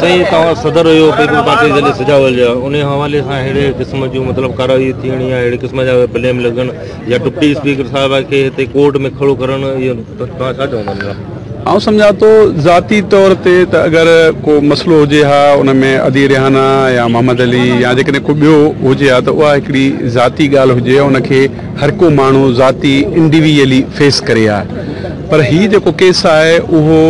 سائين توهان صدر هيو پيپلز پارٽي ضلعي سجاول جا انهي حوالي سان ههڙي قسم جون مطلب ڪارروائي ٿيڻ يا ههڙي قسم جا بليم لڳڻ يا ڊپٽي اسپيڪر صاحب کي هتي ڪورٽ ۾ کڙو ڪرڻ اهو توهان ڇا چوندا ان لاء آئون سمجهان ٿو ذاتي طور تي ته اگر ڪو مسئلو هجي ها ان ۾ ادي ريحانه يا محمد علي يا جيڪڏهن ڪو ٻيو هجي ها ته اها هڪڙي ذاتي ڳالهه هجي ها ان کي هر ڪو ماڻهو ذاتي انڊيويئلي فيس ڪري ها پر هي جيڪو ڪيس آهي اهو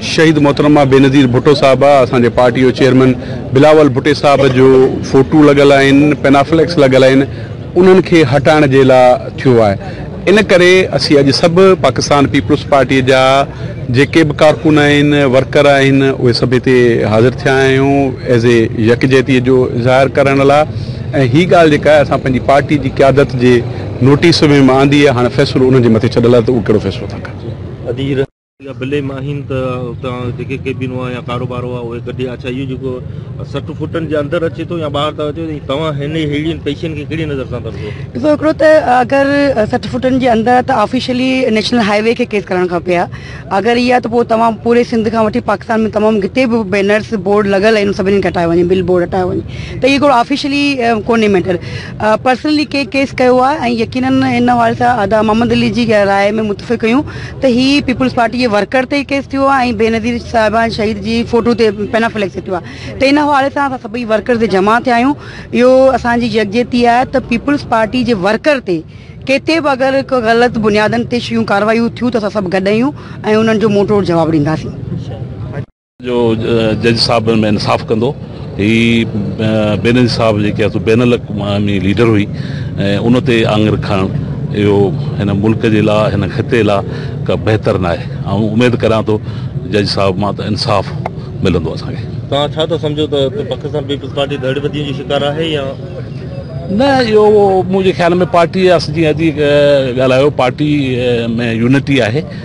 شهيد محترمه بينظير ڀٽو صاحبه اسان جي پارٽي جو چيئرمين بلاول ڀٽي صاحب جو فوٽو لڳل آهن پينافليڪس لڳل آهن انهن کي هٽائڻ جي لا ٿيو آهي ان ڪري اسين اڄ سڀ پاڪستان پيپلز پارٽي جا جيڪي به ڪارڪن آهن ورڪر آهن اهي سڀ هتي حاضر ٿيا آهيون ايز اي يڪجهتي جو اظهار ڪرڻ لا ۽ هي ڳالهه جيڪا آهي اسان پنهنجي پارٽي جي قيادت جي نوٽيس ۾ آندي آهي هاڻي فيصلو انهن جي مٿي ڇڏل آهي ته اهو ڪهڙو فيصلو ٿا ڪن يا بلي م آهن ته اتان جيڪي ڪيبن هئا يا ڪاروبار هئا اهي ڪڍي اڇا اهو جيڪو سٺ فٽن جي اندر اچي ٿو يا ٻاهر ٿا اچو ۽ توهان هن ههڙين پئسن کي ڪهڙي نظر سان ٿا ڏسو؟ ڏسو هڪڙو ته اگر سٺ فٽن جي اندر ته آفيشلي نيشنل هاء وي کي ڪيس ڪرڻ کپي ها اگر هي آهي ته پوء توهان پوري سنڌ کان وٺي پاڪستان ۾ تمام جتي به بينرس بورڊ لڳل آهن سڀني کي هٽايو وڃي بل بورڊ هٽايو وڃي ته هي هڪڙو آفيشلي ڪونهي ميٽر پرسنلي ڪنهن ڪيس ڪيو آهي ۽ يقينن هن حوالي سان ادا محمد علي جي راء ۾ متفق هيون ته هي پيپلز پارٽي جي ورڪر تي ڪيس ٿيو آهي ۽ بينظير صاحبان شهيد جي فوٽو تي پينا فليڪس ٿيو آهي ته ان حوالي سان اسان سڀئي ورڪرز تي جمع ٿيا آهيون اهو اسان جي يڪجهتي آهي ته پيپلز پارٽي جي ورڪر تي ڪٿي به اگر ڪو غلط بنيادن تي شيون ڪاروايون ٿيون ته اسان سڀ گڏ آهيون ۽ انهن جو منهن ٽوڙ جواب ڏينداسين جو جج صاحب ان ۾ انصاف ڪندو. هي بينظير صاحب جيڪي آهي سو بين الاقوامي ليڊر هئي ۽ ان تي آڱر کڻڻ اهو هن ملڪ جي لا هن خطي لا ڪا بهتر ناهي. آئون اميد ڪريان ٿو جج صاحب مان ته انصاف ملندو اسان کي. توهان ڇا ٿا سمجهو ته پاڪستان پيپلز پارٽي ڌڙ وڌيء جي شڪار آهي يا؟ نه اهو منهنجي خيال ۾ پارٽي جي جيئن اڄ ڳالهايو پارٽي ۾ يونٽي آهي.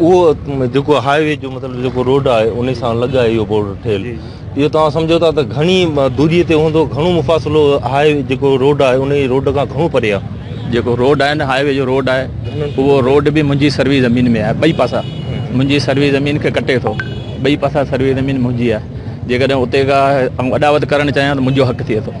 اهو جيڪو هاء وي جو مطلب جيڪو روڊ آهي ان سان لڳ آهي اهو بورڊ ٺهيل اهو توهان سمجهو ٿا ته گهڻي دوري تي هوندو گهڻو مفاصلو هاء وي جيڪو روڊ آهي ان روڊ کان گهڻو پري آهي جيڪو روڊ آهي نه هاء وي جو روڊ آهي اهو روڊ به منهنجي سروي زمين ۾ آهي ٻئي پاسا منهنجي سروي زمين کي ڪٽي ٿو ٻئي پاسا سروي زمين منهنجي آهي جيڪڏهن اتي کا آئون اڏاوت ڪرڻ چاهيان ته منهنجو حق ٿئي ٿو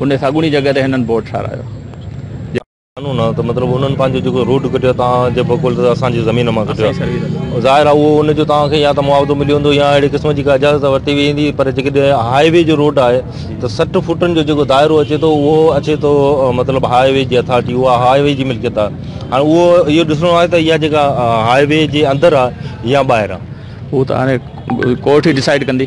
ان ساڳوڻي جڳهه تي هنن بورڊ ٺارايو جنهن قانون آهي ته مطلب انهن پنهنجو جيڪو روڊ ڪڍيو توهان جي بقول ته اسان جي زمين مان ڪڍيو آهي ظاهر آهي اهو ان جو توهان کي يا ته معاوضو ملي ويندو يا اهڙي قسم جي ڪا اجازت ورتي ويندي پر جيڪڏهن هاء وي جو روڊ آهي ته سٺ فوٽن جو جيڪو دائرو اچي ٿو اهو اچي ٿو مطلب هاء وي جي اٿارٽي اها هاء وي جي ملڪيت آهي هاڻي اهو اهو ڏسڻو آهي ته اها جيڪا هاء وي جي اندر آهي يا ٻاهر آهي اهو ته هاڻي ڪورٽ ئي ڊسائيڊ ڪندي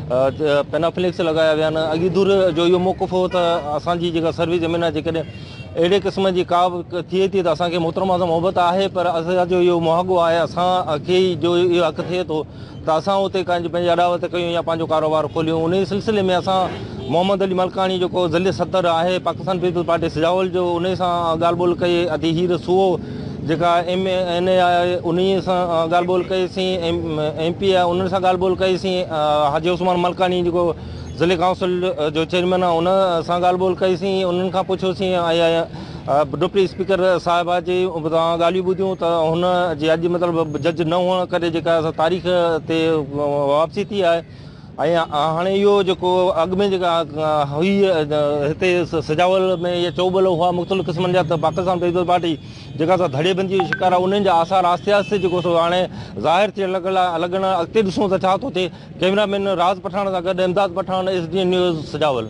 پينافليڪس لڳايا ويا آهن اڳي دور جو اهو موقف هو ته اسانجي جيڪا سروس زمين آهي جيڪڏهن اهڙي قسم جي ڪا به ٿئي ٿي ته اسانکي محترمه سان محبت آهي پر اسان جو اهو مهاڳو آهي اسانکي ئي جو اهو حق ٿئي ٿو ته اسان اتي ڪنهن پنهنجي اڏاوت ڪيون يا پنهنجو ڪاروبار کوليون ان سلسلي ۾ اسان محمد علي ملڪاڻي جيڪو ضلعي صدر آهي پاڪستان پيپلز پارٽي سجاول جو ان سان ڳالهه ٻولهه ڪئي ادي هير سوئو جيڪا ايم اين اي آهي انهي سان ڳالهه ٻولهه ڪئي سين ايم پي آهي انهن سان ڳالهه ٻولهه ڪئي سين حاجي عثمان ملڪاڻي جيڪو ضلعي ڪائونسل جو چيئرمين آهي ان سان ڳالهه ٻولهه ڪئي سين انهن کان پڇيو سين ڊپٽي اسپيڪر صاحب جي توهان ڳالهيون ٻڌيون ته هن جي اڄ مطلب جج نه هئڻ ڪري جيڪا تاريخ تي واپسي ٿي آهي ۽ هاڻي اهو جيڪو اڳ ۾ جيڪا هئي هتي سجاول ۾ يا چوٻل هئا مختلف قسمن جا ته پاڪستان پيپلز پارٽي جيڪا سا ڌڙي بندي جو شڪار آهي انهن جا آثار آهستي آهستي جيڪو سو هاڻي ظاهر ٿيڻ لڳل آهي الڳ نه اڳتي ڏسون ته ڇا ٿو ٿئي ڪئميرا مين راز پٺاڻ سان گڏ Imdad Pathan S D N news Sujawal.